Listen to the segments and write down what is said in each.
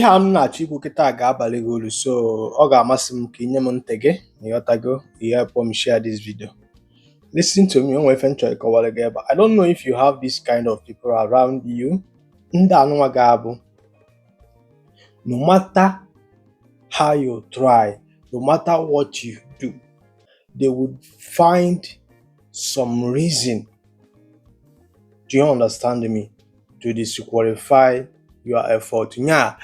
ihe a m na-achọ ikwu kịta ga-abalị gị uru so ọ ga-amasị m ka ị nye m ntị gị na ịghọtago ihe kpọọ m share this video listen to me onwe ife m chọrọ ịkọwara gị ebe a I don't know if you have this kind of people around you ndị anụnwa ga-abụ no matter how you try no matter what you do they would find some reason do you understand me to disqualify your effort nya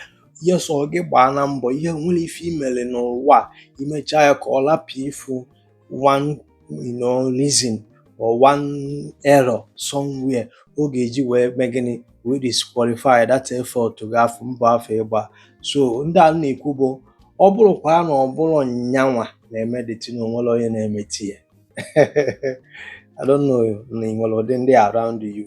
ihe sọ gị gbaa na mbọ i nwere ife i mere n'ụwa i mechaa ya ka ọ lapụ ịfụ one you know, reason or one error somewhere ọ ga-eji wee mee gịnị wee disqualify that effort gị afụ mbọ afụ ị gba so ndị a m na-ekwu bụ ọ bụrụkwa na ọ bụrọ nyanwa na-eme that thing na o nwerọ onye na-emete ya I don't know na ị nwere ụdị ndị around you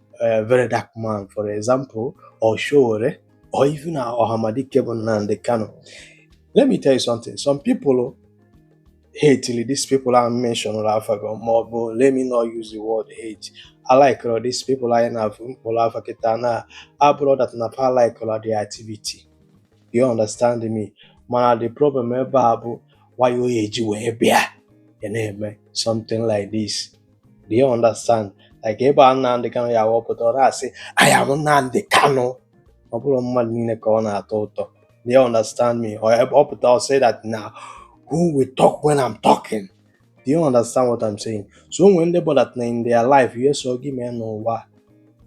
uh, very dark man for example or Sowore or even Ohamadike bụ Nnamdi Kanu let me tell you something some people hate till these people I mentioned afago ma ọ bụ let me not use the word hate I like all these people anyị na-afụ m kpọrọ afa kịta na abụrọ that na fa like all their activity you understand me mana the problem ebe a bụ why o ji wee bịa ị na-eme something like this do you understand like ebe a Nnamdị Kanụ ya wepụta ọ na-asị I am Nnamdị Kanụ ọ bụrọ mmadụ niile ka ọ na-atọ ụtọ do you understand me ọ pụta ọ say that na who will talk when I'm talking do you understand what I'm saying so o nwere ndị bụ that na in their life ihe sọ gị mee n'ụwa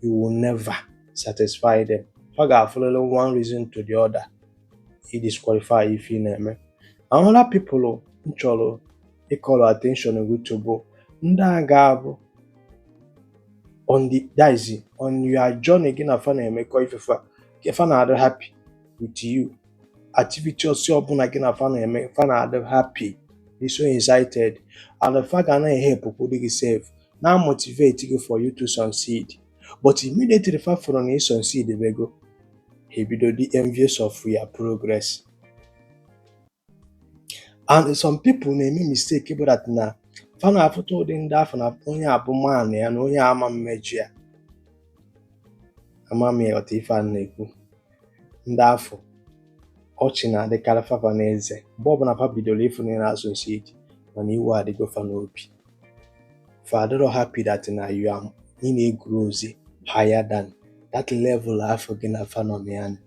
you will never satisfy them ọ ga-afụlele one reason to the other i disqualify ife ị na-eme another people m chọrọ ị call attention gị to bụ ndị a ga-abụ on the that is on your journey gị na fa na-emekọ ife fa nke fa na-adị happy with you activity ọsị ọbụla gị na fa na-eme fa na-adị happy dị so excited and fa ga na-ehelpụkwudị gị sef na-emotivate gị for you to succeed but immediately fa fụrụ na ị succeed bego ebido dị envious of your progress and some people na-eme mistake bụ that na fa na-afụta ụdị ndị afụ na onye a bụ man ya na onye ama emejọ ya ama m ị ghọta ife m na-ekwu ndị afụ ọchị na-adịkarị fafa n'eze mgbe ọbụla fa bidoro ịfụ na ị na-asucceed mana iwe adịgo fa n'obi fa adịrọ happy that na you are ị na-egrowzi higher than that level afụ gị na fa nọ na ya nọ.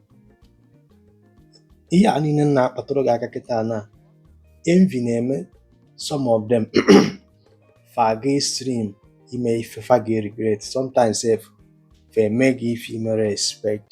ihe a niile m na-akpatụrụ gị aka kịta na envy na-eme some of them fa aga extreme ime ife fa ga-regret sometimes sef fa eme gị ife i merọ expect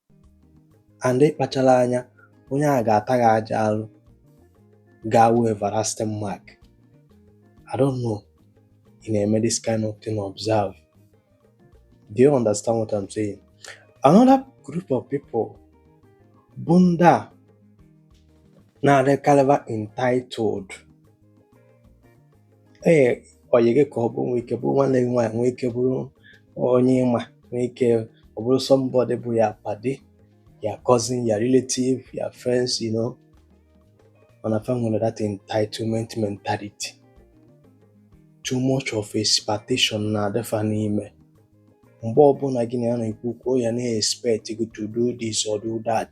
and ị kpacharọ anya onye a ga-ata gị ajọ alụ ga-awụ everlasting mark I don't know ị na-eme this kind of thing observe do you understand what I'm saying another group of people bụ ndị a na-adịkarịba entitled ee ọyị gị ka ọ bụ nwee ike bụrụ nwanne gị nwaanyị nwee ike bụrụ onye ị ma nwee ike ọ bụrụ somebody bụ your padi your cousin your relative your friends you know mana fa nwere that entitlement mentality too much of expectation na-adị fa n'ime mgbe ọbụla gị na ya na-ekwu okwu ya na-expect gị to do this or do that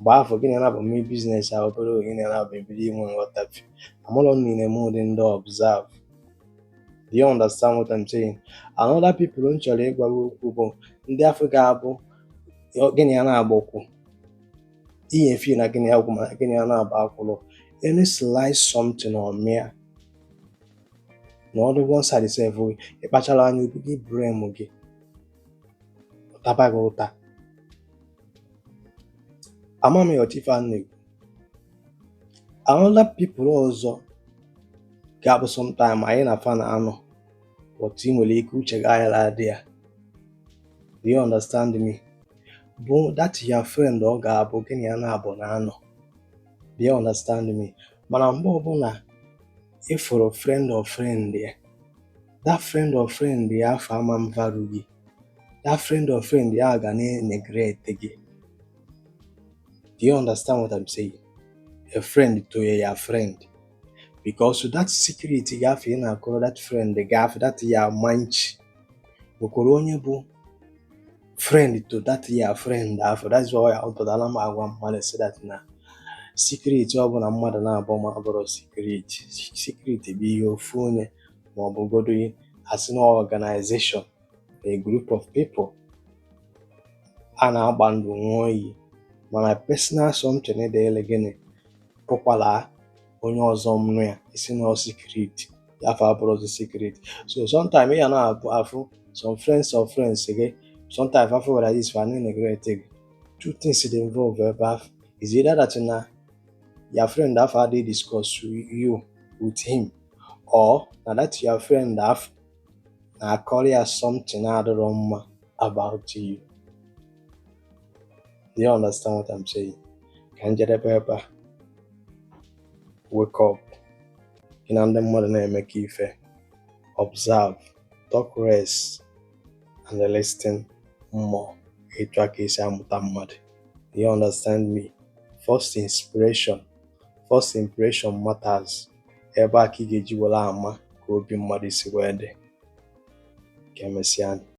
mgbe afụ gị na ya naabọ mee business a obere oge gị na ya naabọ ebido inwe nghọtafie amarọ m ị na-eme ụdị ndị observe do you understand what I'm saying another people m chọrọ ịgwa gị okwu bụ ndị afụ ga-abụ gị na ya naabọ kwụ i chefie na gị na ya kwụ mana gị na ya naabọ akwụrọ any slight something ọ mere na ọ dị one side sef ị kpacharọ anya okwu gị blame gị ọ taba gị ụta ama m ma ị ghọta ife a m na-ekwu another people ọzọ ga-abụ sometime anyị na fa na-anọ but i nwere ike uche gị aghara adị ya do you understand me bụ that your friend ọ ga-abụ gị na ya naabọ na-anọ do you understand me mana mgbe ọbụla ị fụrụ friend of friend ya that friend of friend ya afụ ama na-value gị that friend of friend ya ga na-neglect gị do you understand what I'm saying a friend to your friend because that secret gị afụ ị na-akọrọ that friend gị afụ that your manchi nwekwara onye bụ friend to that your friend afụ that's why ọ pụtara m agwa mmadụ sị that na secret ọbụla mmadụ naabọ ma abụrọ secret secret bụ ihe ofu onye ma ọ bụgodu a sị na organization a group of people a na-agba ndụ nwụọ iyi mana personal something dịịrị gị ị pụkwara onye ọzọ nụ ya ị sị na secret ya afụ abụrọzi secret so sometimes ya na-abụ a fụ some friends of friends gị sometimes afụ were this fa na-neglect gị two things dey involve ebe afụ it's either that na your friend afụ adịghị discuss you with him or na that your friend ahụ na-akọrọ ya something adịrọ mma about you do you understand what I'm saying ka m jedebe ebe a wake up gị na ndị mmadụ na-emekọ ife observe talk less and listen more etu a ka e si amụta mmadụ do you understand me first inspiration first impression matters ebe a ka ị ga-eji were ama ka obi mmadụ si wee dị ka emesịa